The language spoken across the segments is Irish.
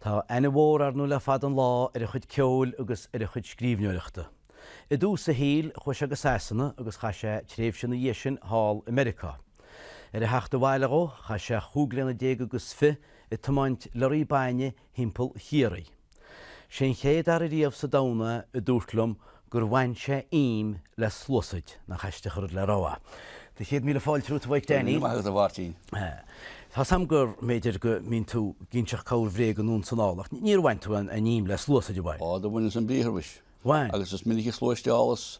Tá aithne mhór ar ndóigh le fada an lá ar a chuid ceoil agus ar a chuid scríbhneoireachta. I dtús a shaoil, chuaigh sé go Sasana agus chaith sé tréimhse ina dhiaidh sin thall i Meiriceá. Ar a theacht abhaile dhó, chaith sé chúig bliana déag agus fiche ag tiomáint lorraí bainne thimpeall Chiarraí. Sé an chéad fhear ariamh sa domhan é a dúirt liom gur bhain sé im le sluasaid, nach aisteach rud le rá. Tá céad míle fáilte romhat, a Mhaidhc Dainín. Go raibh maith agat, a Mháirtín. Tá 'sam gur mb'fhéidir go mbíonn tú ag inseacht corrbhréag anonn 's anall, ach níor bhain tú an im le sluasaid, ar bhain? Ó, do bhaineas ambriathar, mhuis. Bhain? Agus is minic a shluaisteálas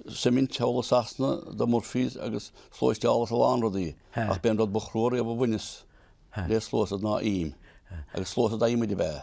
suimint thall i Sasana do Murphy's agus shluaisteálas a lán rudaí, ach b'é an rud ba chrua riamh a bhaineas le sluasaid ná im. Agus sluasaid adhmaid ab ea?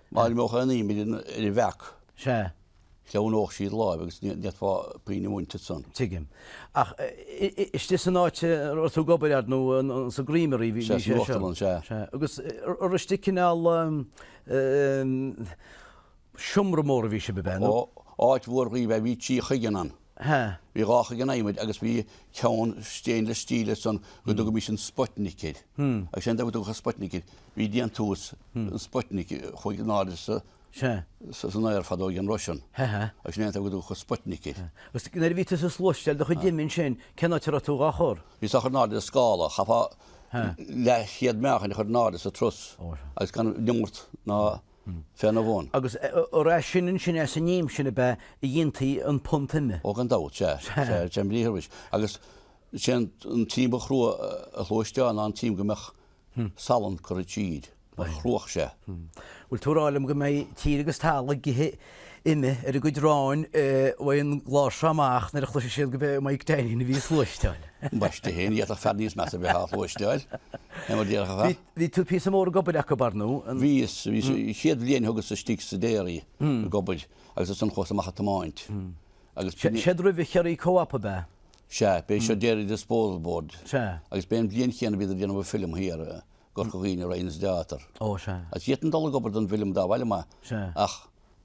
Mairfeadh aon aoinmhid an uile bheac. Sea. Cheannóch siad láimh agus ní fhéadfá puinn a bhaint san. Tigim. Ach istigh san áit a raibh tú ag obair fadó sa gCreamery, bhí sé seo. Sea, san uachtarlann, sea. Sea. Agus ar istigh i gcineál seomra mór a bhí sibh, ab ea? Ó, áit mhór ab ea í, bhí trí chuigeann ann. ha. Bhí dhá chuigeann adhmaid agus bhí ceann stainless steel ansan go dtugaimís an Sputnik air. Agus sé an fáth go dtugadh an Sputnik air, bhí déantús an Sputnik a chuaigh in airde sa, san aer fadó ag an Russian. ha ha. Agus sin é an fáth go dtugadh an Sputnik air. Agus nuair a bhí tú ag sluaisteáil do chuid ime ansin, cén áit a raibh tú dhá chur? Bhíos á chur in airde ar scála. Chaithfeá leathchéad meáchain a chur in airde sa truss agus gan neamart ná féna bhun. Agus ar as sin ansin as an im sin ab ea a dhéantaí an punt ime? Ó gan dabht, sea. Sea, ambriathar mhuis. Agus sé an t-im ba chrua a shluaisteáil ná an t-im go mbeadh salann curtha tríd, mar chruadh sé. Bhfuil tú ag rá liom go mbeidh tír agus talamh ag ithe ime ar a gcuid aráin uaidh an gclár seo amach nuair a chloisfidh siad gurb é Maidhc Dainín a bhí á shluaisteáil? Ambaiste fhéin, d'fhéadfadh fear níos measa bheith á shluaisteáil, é mar déarfá. Bhí tú píosa mór ag obair acu, ar ndú? Bhíos. Bhíos. Chéad bhliain thugas istigh sa déirí ag obair agus as san chuas amach ag tiomáint agus b'shin é. Céard roimh Chiarraí Co-Op ab ea? Sea. B'é seo Dairy Disposal Board. Sea. Agus b'é an bhliain chéanna bhíodar ag déanamh film thiar i gCorca Dhuibhne, Ryan's Daughter. Ó, sea. Agus d'fhéadfainn dul ag obair don bhfilm dá mb'áil liom é. Sea. Ach.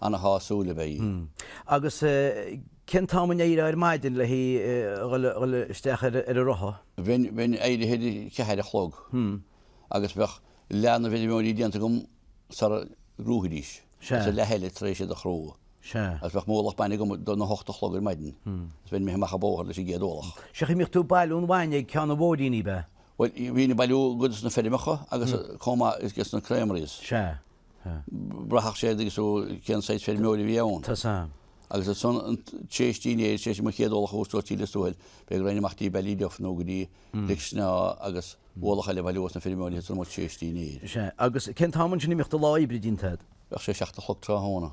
Ana shásúil ab ea í. Agus cén t-am a n-éireofá ar maidin le haghaidh a dhul isteach ar a rotha? Bheinn éirithe ar a ceathair a chlog agus bheadh leath na bhfeirmeoirí déanta agam sara gcrúfaidís, agus a leath eile tar éis iad a chrú. Agus bheadh m'ualach bainne agam don a hocht a chlog ar maidin, agus bheinn imithe amach an bóthar leis an gcéad ualach. Sea, an mbíodh tú ag bailiú an bhainne ag ceann an bhóithrín, ab ea? Bhuel, bhínn ag bailiú i gcuid de na feirmeacha agus chomh maith is de na creameries. Sea. Bhraithfeadh sé air agus ó cén saghas feirmeoirí a bhí ann. Tá a fhios agam. Agus ansan tréis dinnéir sé sin mo chéad ualach chuas go dtí Lios Tuathail. Bheadh run amach dtí Ballyduff nó go dtí Lic Snámha agus ualach eile a bhailiú ós na feirmeoirí ansan tréis dinnéir. Is ea. Agus cén t-am ansin a mbíodh do lá oibre déanta agat? Bheadh sé seacht a chlog tráthnóna.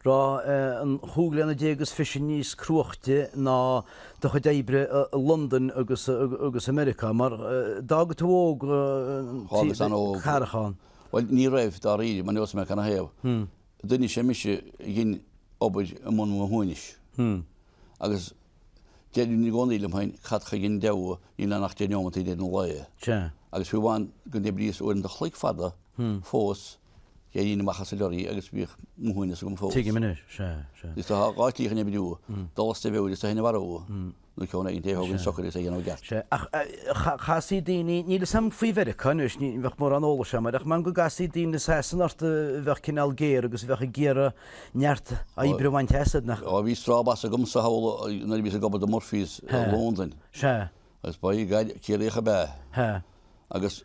Raibh an chúig bliana déag is fiche níos cruaichte ná do chuid oibre i Londain agus i Meiriceá? Mar d'fhág tú óg an carrachán. Bhuel, ní raibh, dáiríre, mar neosaidh mé cad 'na thaobh. Duine is ea mise a dhein obair i mbun mo shuaimhnis. Agus deirim i gcónaí liom féin, cad chuige an deabhadh níl ann ach deich neomat i ndeireadh an lae? Agus fiú amháin go n-oibríos uaireanta chloig fada fós, D'éirínn amach as an leoraí agus bhíodh m'fhuinneamh agam fós. Tuigim anois, sea, sea. Is tá dhá shlí chun oibriú, dul as do mheabhair is tú féin a mharú, nó ceann éigin é a thógaint socair is é a dhéanamh ceart. Sea, ach chasfaí daoine, níl a fhios agam faoi Mheiriceá anois, ní bheadh mórán eolais agam air, ach m'anam go gcasfaí daoine i Sasana ort a bheadh cineál géar agus a bheadh ag iarraidh neart oibre a bhaint asat, nach. Ó, bhí straw boss agam i Southall nuair a bhíos ag obair do Murphy's i Londain. Sea. Agus by God Ciarraíoch ab ea é. Sea. Agus.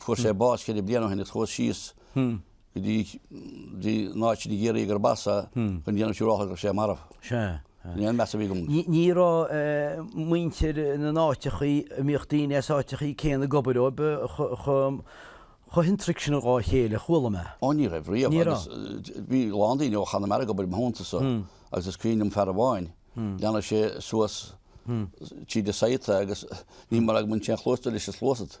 Fuair sé bás ceithre bliana ó shin agus chuas síos go dtí an áit i gCiarraí gurb as é chun déanamh siúrálta go raibh sé marbh. Sin é an meas a bhí agam. Ní raibh muintir na n-áiteachaí, a mbíodh daoine as áiteachaí céanna ag obair dóibh, chomh hiontach sin dhá chéile a chuala mé. Ó ní raibh riamh. Ní raibh. Bhí a lán daoine ó Chonamara ag obair i mo theanntasa agus is cuimhin liom fear amháin, lean sé suas tríd an site é agus ní mór gur bhain sé an chluas de leis an sluasaid.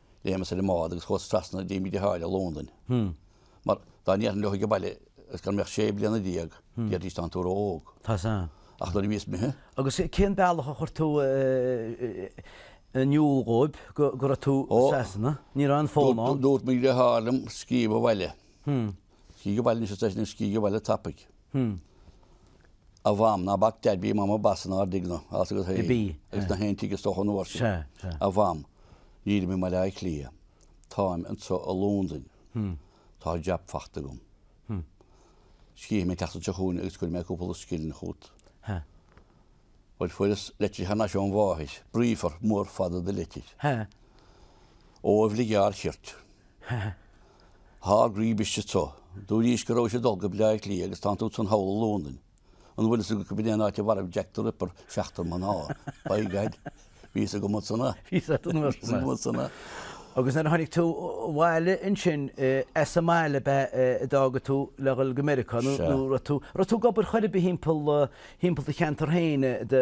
Léimeas ar an mbád agus chuas trasna dtí mo dheartháir i Londain. Mar dá ndéarfainn leo ag an baile is gan mé ach sé bliana déag, déarfaidís tánn tú ró-óg. Ach nuair a bhíos imithe. Agus cén bealach a chuir tú in iúl dhóibh go raibh tú i Sasana? Ní raibh an fón ann. Dúirt mo dheartháir liom scríobh abhaile. Scríobh Abhaile Anois Ar Seisean Is Scríobh Abhaile Tapaidh A Mham Ná Bac Deaid Bhí Mam Ina Boss Inár dTighne Agus Bhí Is I nGach Aon Tigh Is Dócha An Uair Sin A Mham Nílim I Mbaile Átha Cliath Táim Anseo I Londain Tá Jab Fachta Agam Scríobhfaidh Mé An tSeachtain Seo Chugainn Agus Cuirfidh Mé Cúpla Scilling Chút Bhuel Fuaireas Leitir Thar Nais Óm Mháthair Bríomhar Mór Fada De Leitir Ó Bhligeaird Chirt Thar gríb istigh tu. Dúraís go rabhais ag dul go Bleá Cliath agus tá tú ansan thall i Londain. An bhfuil fhios agat gurb in é an áit a mharaigh Jack the Ripper seachtar mná? By God, bhí fhios agam ansan é. Bhí fhios agam ansan é. Agus nuair a tháinig tú abhaile ansin, as an mbaile ab ea a d'fhág tú le dhul go Meiriceá nó raibh tú, raibh tú ag obair chor ar bith thimpeall do cheantar féin, do.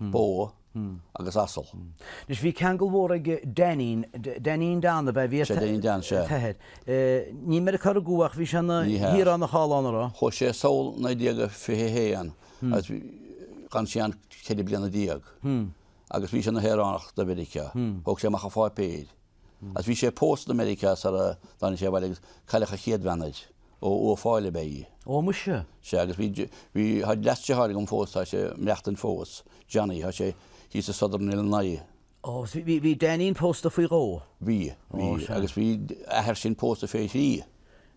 bó agus asal. Anois bhí ceangal mhór ag Dainín, Dainín Dan ab ea? Bhí sé Dainín Dan, sea. T'athair. Ní i Meiriceá a rugadh é ach bhí sé ina shaoránach thall ann, a' raibh? Chuaigh sé sall 1921 agus d'fhan sé ann ceithre bliana déag agus bhí sé ina shaoránach de Mheiriceá. Thóg sé amach a pháipéir. Agus bhí sé pósta i Meiriceá sar a dtáinig sé abhaile agus cailleach a chéad bhean air. Ó Uíbh Fhailí ab ea í. Ó muise. Sea, agus bhí, bhí, tá leasdeartháir agam fós, tá sé ag maireachtaint fós, Johnny, tá sé thíos i Southern Illinois. Ó, agus bhí, bhí, bhí Dainín pósta faoi dhó? Bhí, bhí, agus bhí a athair sin pósta fé thrí.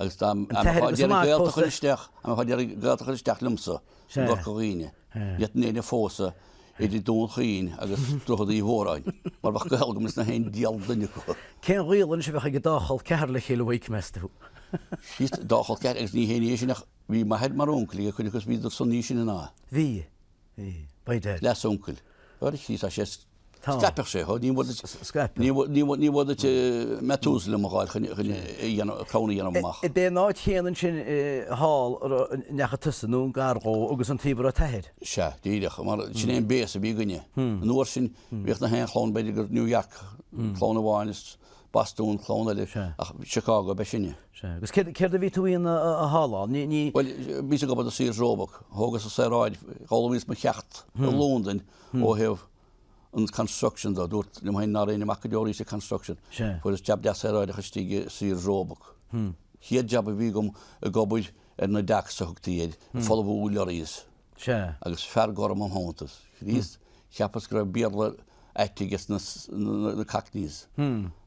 Agus tá an fáth deiridh gaolta a chur isteach, an fáth deiridh gaolta a chur isteach liomsa i gCorca Dhuibhne, ní fhéadfainn éinne a phósadh idir Dún Chaoin agus Droichead Uí Mhóráin, mar bheadh gaol agam leis na haon diabhal duine acu. Cén gaol anois a bheadh ag an dá chol ceathar le chéile uaidh, meas tú? Chríost, dá chol ceathar, agus ní haon ní é sin ach bhí m'athair mar uncail ag cuid acu agus bhíodar san níos sine ná é. Bhí. by dad. Leas-uncail. A chroí, tá sé. Scaipeadh sé, hó, níor mhór duit, níor mhór duit Methuselah a dh'fháil chun a dhéanamh, crann a dhéanamh amach. Ab é an áit chéanna ansin thall a ndeachaigh tusa, nó i ngar dhó, agus an taobh a raibh t'athair? Sea, díreach, mar sin é an béas a bhí againne. An uair sin, bhíodh na haon chlann, b'fhéidir gur New York clann amháin is Bostún, clann eile, ach Chicago ab ea sinne. Sea, agus céard a bhí tú a dhéanamh thall ann? Bhuel, bhíos ag obair do Sears Roebuck. Thógas an saoráid, d'fhoghlaimíos mo cheacht i Londain ó thaobh an construction de. Dúirt liom féin ná raghainn amach go deo arís sa construction. Fuaireas jab deas saoráideach istigh i Sears Roebuck. Chéad jab a bhí agam ag obair ar na docks a thugtaí air, ag folmhú lorries. Sea. Agus fear gorm im theannta is Chríost, cheapas go raibh Béarla ait aige sna Cockneys,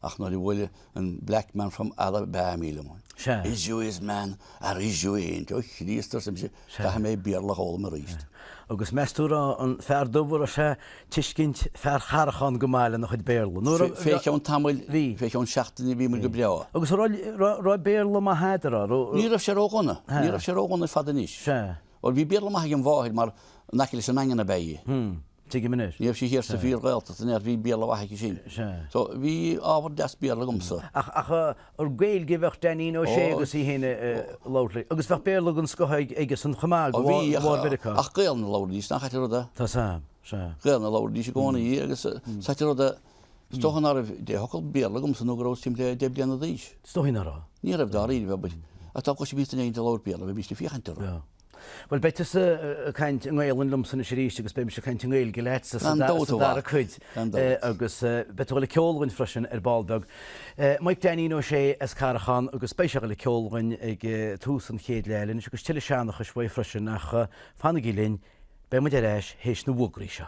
ach nuair a bhuail an black man from Alabamy liom, Sea. Is you is, man, or is you ain't? Ó Chríost, arsa mise, caithfidh mé Béarla a fhoghlaim arís. Agus meas tú a raibh an fear dubh, a raibh sé ag tuiscint fear Charracháin go maith lena chuid Béarla? Nó raibh, Fé cheann tamaill, Bhí. fé cheann seachtaine, bhíomar go breá. Agus a raibh, raibh, raibh Béarla maith agat, a raibh? Ní raibh sé ródhona, ní raibh sé ródhona ar fad anois. Sea. Bhuel, bhí Béarla maith ag mo mháthair mar in aice leis an nDaingean ab ea í. Hm. Tuigim anois. Ní raibh sí thiar sa bhfíor-Ghaeltacht, an ea? Bhí Béarla mhaith aici sin. Sea. So, bhí ábhar deas Béarla agamsa. Ach, ach an Gaeilge a bheadh Dainín Ó Sé agus í fhéin a labhairt leis. Agus bheadh Béarla den scoth aige san chomh maith, de bharr Mheiriceá. Ach Gaolainn a labhraídís, nach ait an rud é? Tá, sea, sea. Gaolainn a labhraídís i gcónaí agus is ait an rud é. Is dócha ná raibh deich focal Béarla agamsa nó go rabhas timpeall le deich bliana d'aois. Is dócha ná raibh. Ní raibh dáiríre, abair. Ach dá gcloisfimíst éinne ag labhairt Béarla, bheimíst ag féachaint orthu. Bhuel, beidh tusa ag caint i nGaelainn liomsa anois arís agus beidh mise ag caint i nGaeilge leatsa sa dara cuid. Agus beidh tuilleadh ceoil againn freisin ar ball beag. Maidhc Dainín Ó Sé as Carrachán agus beidh sé le ceol againn ag tús an chéad leath anois agus tuilleadh seanchais uaidh freisin ach fanaigí linn, beidh muid ar ais théis na bhfógraí seo.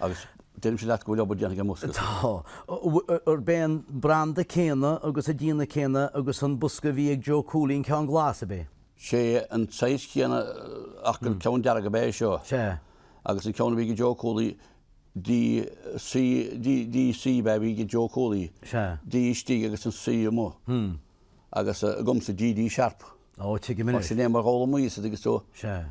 Agus deirimse leat go bhfuil obair déanta ag an mbosca. Tá. Arb é an branda céanna agus an déanamh céanna agus an bosca a bhí ag Joe Cooley, an ceann glas, ab é? Sé an saghas céanna ach gur ceann dearg ab ea é seo. Sea. Agus an ceann a bhí ag Joe Cooley, D C ab ea a bhí ag Joe Cooley. Sea. D istigh agus an C amuigh. Agus agamsa D D sharp. Ó, tuigim Mar anois. sin é mar dh'fhoghlaimíos iad agus do, Sea.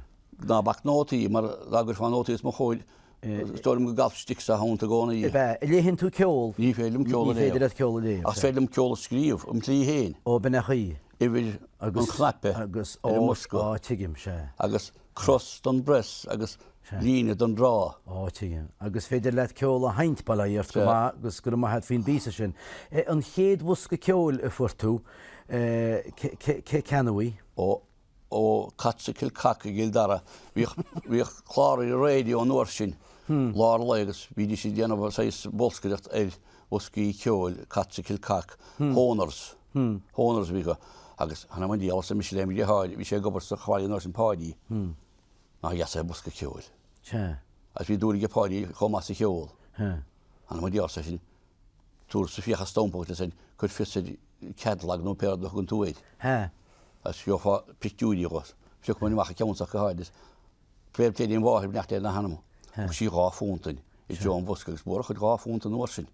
ná bac nótaí, mar dá gcuirfeá nótaí os mo chomhair, is dóigh liom go gcalfadh stick sa hound i gcónaí é. Ab ea, an léann tú ceol? Ní féidir liom ceol a Ní féidir léamh. leat ceol a léamh, Ach sea. is féidir liom ceol a scríobh, im tslí fhéin, Ó, b'in an chaoi. uimhir an chnaipe Agus, ar ó, an mbosca. á, tuigim, sea. Agus Cros don bpress agus líne don draw. Á, tuigim. Agus is féidir leat ceol a sheinnt, bail ó Dhia ort go maith agus go raibh maith a't faoin bpíosa sin. An chéad bhosca ceoil a fuair tú, cé a cheannaigh í? Ó, ó Cotts of Kilcock i gCill Dara. Bhíodh, bhíodh clár ar an raidió an uair sin, lár lae agus bhídís ag déanamh saghas bolscaireacht ar bhoscaí ceoil, Cotts of Kilcock, Hohners. Hohners a bhí acu agus th'anam 'on diabhal, arsa mise lem dheartháir. Bhí sé ag obair sa chláirigh an uair sin, Páidí, nár dheas é bosca ceoil. Agus bhí dúil aige Páidí chomh maith sa cheol. Th'anam 'on diabhal, arsa seisean. Tabharfadsa fiacha stampa dhuit is cuir fios ar catalogue nó pé rud a thugann tú air. Agus gheofá pictiúirí dho. Phiocamair amach an ceann so ach go háirithe. Fair play dom mháthair, beannacht Dé lena hanam. Thug sí dhá phúnt dúinn i dtreo an bhosca agus ba mhór an chuid dhá phúnt an uair sin.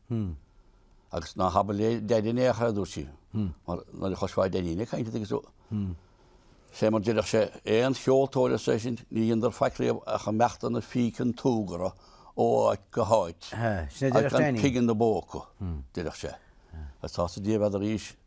Agus ná habair le Dainín é in aon chor, a dúirt sí, mar nuair a chloisfeá Dainín ag caint agus sé mar déarfadh sé, 'Aon cheoltóir, arsa seisean, 'níor dheineadar faic riamh ach ag imeacht ina phíce an tsúgartha ó áit go háit agus gan pingin ina bpóca, a déarfadh sé. Agus tá sa diabhal fhada arís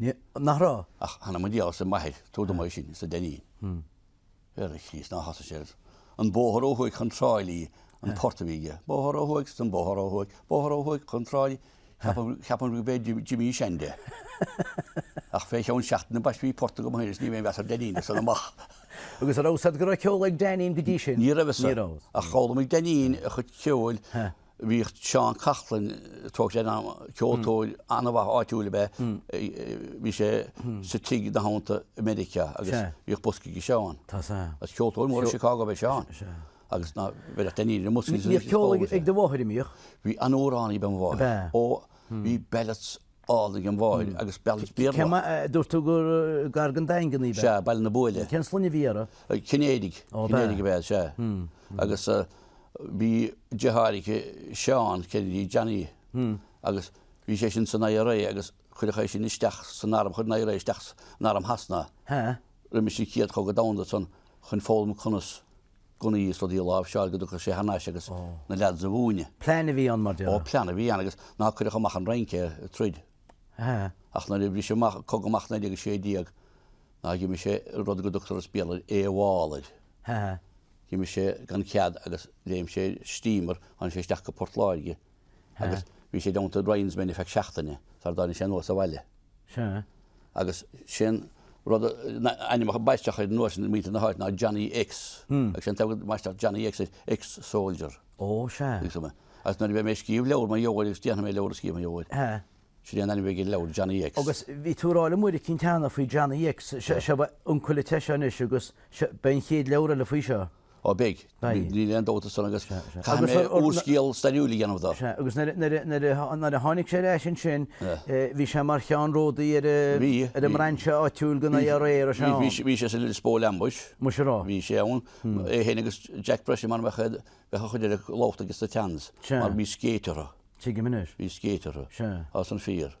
Níor, nach raibh? Ach th'anam 'on diabhal, arsa m'athair, tabhair dom é sin, arsa Dainín. Ar a Chríost, nár thosaigh sé ar An bóthar ó thuaidh chun Tráighlí, an port a bhí aige, bóthar ó thuaidh, an bóthar ó thuaidh, bóthar ó thuaidh chun Tráighlí, cheapfá gurbh é Jimmy Shand é. Ach fé cheann seachtaine ambaist bhí port agam fhéin is ní raibh aon mheas ar Dainín as san amach. Agus a' raibh a fhios a'd go raibh ceol ag Dainín go dtí sin? Ní raibh a fhios. Ní raibh. Ach d'fhoghlaimigh Dainín a chuid ceoil Bhíodh Seán Coughlan ceoltóir an-mhaith áitiúil ab ea é. Bhí sé sna tríochaidí anonn i Meiriceá agus bhíodh bosca ag Seán. Is ceoltóir mór i Chicago ab ea Seán agus ná bheadh daoine amuigh san oíche. Bhíodh ceol ag do mháthair, a mbíodh? Bhí an-amhránaí ab ea mo mháthair. Ó, bhí ballads. Álainn ag mo mháthair agus ballads Béarla chomh maith. Dúirt tú gur gar don Daingean í. Sea, Baile na Buaile. Cén sloinne a bhí uirthi? Cinnéidigh. Ó b'ea. Cinnéidigh ab ea, sea. Agus bhí deartháir aici, Seán Kennedy, Johnny, agus bhí sé sin san IRA agus cuireadh é sin isteach san arm, chuir an IRA isteach in arm Shasana é roimhe sin, Céad Chogadh Domhanda san, chun foghlaim conas gunnaí is rudaí a láimhseáil go dtiocfadh sé thar n-ais agus na leads a mhúineadh. Plean a bhí ann, mar Ó, plean a bhí ann agus ná cuireadh amach an Fhrainc é, ag troid. Ach nuair a bhris an cogadh amach 1916, ná dh'imigh sé i rud go dtugtar as Béarla AWOL air. D'imigh sé gan cead agus léim sé ar steamer, tháinig sé isteach go Port Láirge. agus bhí sé i dteannta Ryan's Men feadh seachtaine sar dtáinig sé anuas abhaile. Sea. Agus sé'n rud a, ainm a baisteadh air ansan ag muinntir na h-áite ná Johnny X. Agus sé'n t-ainm a baisteadh Johnny X, ex-soldier. Ó, sea. Bhí san. Agus nuair a bhí mé ag scríobh leabhar mar gheall air agus déanfaidh mé leabhar a scríobh mar gheall air. Sea. Sin é an ainm a bheidh ag an leabhar, Johnny X. Agus bhí tú ag rá liom uair eicínt cheana faoi Johnny X. Sea. Seo, b'uncail duit é seo anois agus seo, beidh an chéad leabhar eile faoi seo. Ó, beidh. Níl aon dabht ansan agus caithfidh mé úrscéal stairiúil a dhéanamh dó. Sea, agus nuair a tháinig sé ar ais ansin, bhí sé mar cheannródaí ar an mbrainse áitiúil den IRA, ar sé ann? Bhí sé sa Lispole Ambush. Más ea?. Bhí sé ann. É féin agus Jack Breasail mar a bheadh siad a chuid ar a ghlóbhta agus a teannas. Mar bhí scéit orthu. Tuigim anois. Bhí scéit orthu. Sea. As an fíor.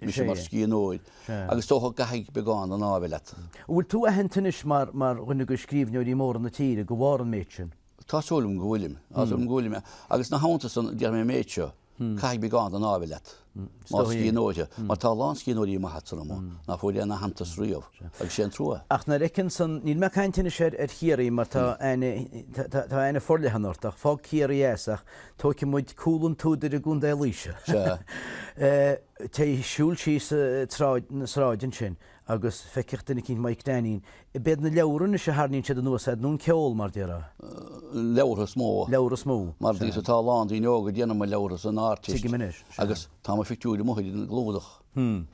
mise mar scríbhneoir agus is dócha caithfidh beagán an ádh a bheith leat. An bhfuil tú aitheanta anois mar dhuine de scríbhneoirí móra na tíre, de bharr an méid sin? Tá súil agam go bhfuilim. Tá súil agam go bhfuilim. Agus ina theannta san, déarfaidh mé an méid seo, caithfidh beagán den ádh a bheith leat mar scríbhneoir de, mar tá a lán scríbhneoirí maithe san am ná fuair aon aitheantas riamh, agus sé an trua. Ach nuair a fheiceann siad, níl mé ag caint anois ar Chiarraí mar tá aithne forleathan ort, ach fág Ciarraí as, ach Tóigfidh muid Cúl an tSúdair i gContae Laoise. Téigh ag siúl síos an sráid ansin agus feicfeadh duine eicínt Maidhc Dainín. Ab iad na leabhra anois a tharraingíonn siad anuas air, nó an ceol, mar a déarfá. Leabhra is mó. Leabhra is mó. Mar, d'you see, tá a lán daoine óga ag déanamh mo leabhra san Ardteist. Tuigim anois. Agus tá mo phictiúir amuigh ar an gclúdach.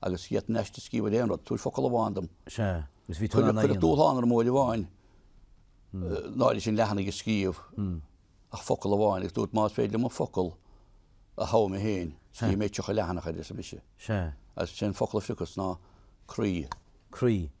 Agus d'fhéadfainn aiste a scríobh ar aon rud, tabhair focal amháin dom. Sea, agus bhí tú in ann é a dhéanamh. Cuireadh dúshlán orm uair amháin, ná fiche leathanach a scríobh, ach focal amháin, agus dúirt más féidir liom an focal a thogha mé féin, scríobhfaidh mé 30 leathanach air, arsa mise. Sea. Agus sin an focal a phiocas ná croí. Croí.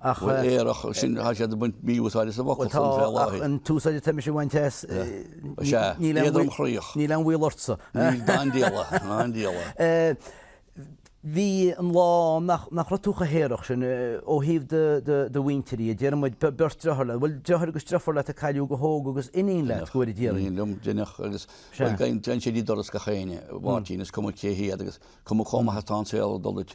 Ach. Bhuel, aerach sin, tá siad ag baint mí-úsáid as an bhfocal san fé láthair. Bhuel, tá, ach an t-úsáid atá mise a bhaint as, níl aon bhaol. Sea, níl aon bhaol ortsa. Níl, dá ndíola, dá ndíola. Bhí an lá nach raibh tú chomh haerach sin ó thaobh do mhuintire, déarfaidh muid, beart deartháir leat. Bhuel, deartháir agus deirfiúr leat a cailleadh go hóg agus iníon leat, go bhfóire Dia orainn. Iníon liom, deineadh, agus bhuel, tagann sé go dtí doras gach éinne, a Mháirtín, is cuma cé hiad agus cuma chomh maith atá an saol ag dul duit.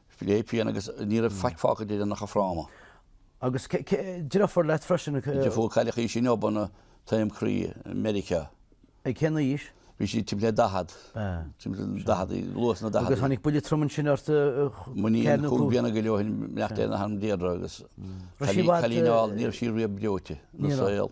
Le pian agus ní raibh faic fágtha di ach a fráma. Agus deirfiúr leat freisin go. Deirfiúr óg cailleadh í sin go hobann taom croí i Meiriceá. Ag cén aois? Bhí sí timpeall ar 40. Timpeall 40, luath sna 40. Agus tháinig buille trom ansin ort. M'iníon cúig bliana go leith ó shin meachta na ham Deirdre agus. Cailín álainn ní raibh sí riamh breoite ina saol.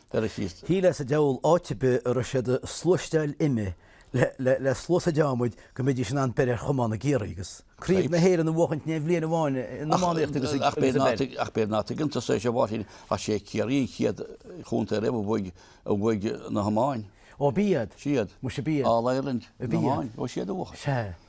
Shíl mé sa diabhal áit ar bith a raibh siad a sluaisteáil ime le sluasaid adhmaid go mbeidís in ann breith ar chamán i gCiarraí agus Craobh na hÉireann a bhuachaint in aon bhliain amháin in iománaíocht agus i bpeil. Ach b'fhéidir ná tuigeann tú é seo, a Mháirtín, ach sé Ciarraí an chéad chontae riamh a bhuaigh a bhuaigh na hiomáin. Ó b'iad. Siad. Muise b'iad. All Ireland na hiomáin. Ó siad a bhuachaint. Sea.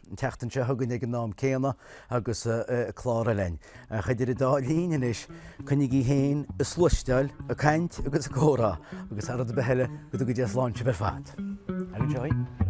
An tseachtain seo chugainn ag an am céanna agus clár eile againn. Ach idir an dá linn anois, coinnígí féin ag sluaisteáil, ag caint agus ag comhrá agus thar rud ar bith eile, go dtuga Dia sláinte dhaoibh ar fad. Ar an seoigh.